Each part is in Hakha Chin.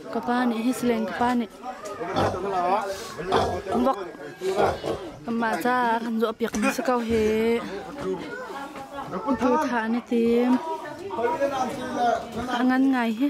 Ka pa nih hisileng ka pa nih vok kanmah ca kan zuah piak mi si ko hi tu thah an i tim a ngan ngai hi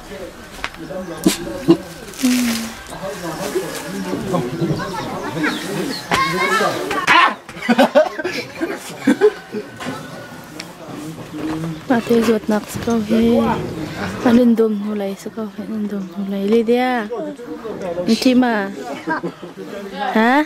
Mate zawtnak si ko hi. An in dum hnu lei si ko hi an in dum hnu lei. Lydia, Mtima. Ha?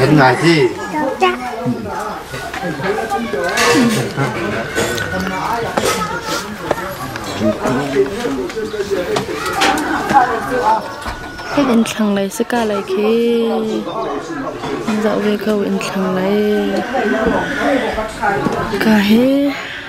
Kan ngai si. in thlang lei si ka lai khi an zah ve ko in thlang lei ka he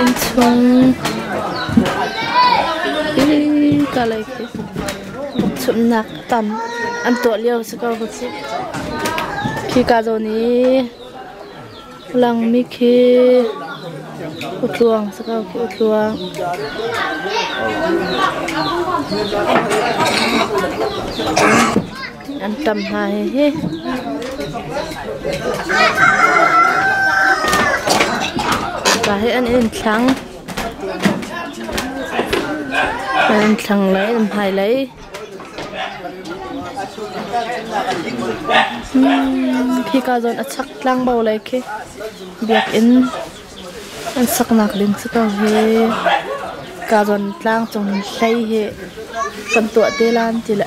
Inn chung i kalai khi chumhnak tam an tuah lio si ko khi ka zawn i. Langmi khi utluang si ko khi utluang. An tam hna hihi. Mipa hi an in thlang. An in thlang lai, an hmai lai. Hika zawn a chak tlangbo lei khi biakinn an saknak ding si ko hi. Ka zawn tlang cung hlei hi kan tuah te lan ti le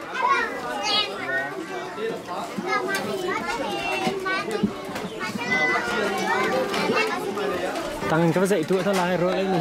Tangin ka va zeih tu a lai rol ei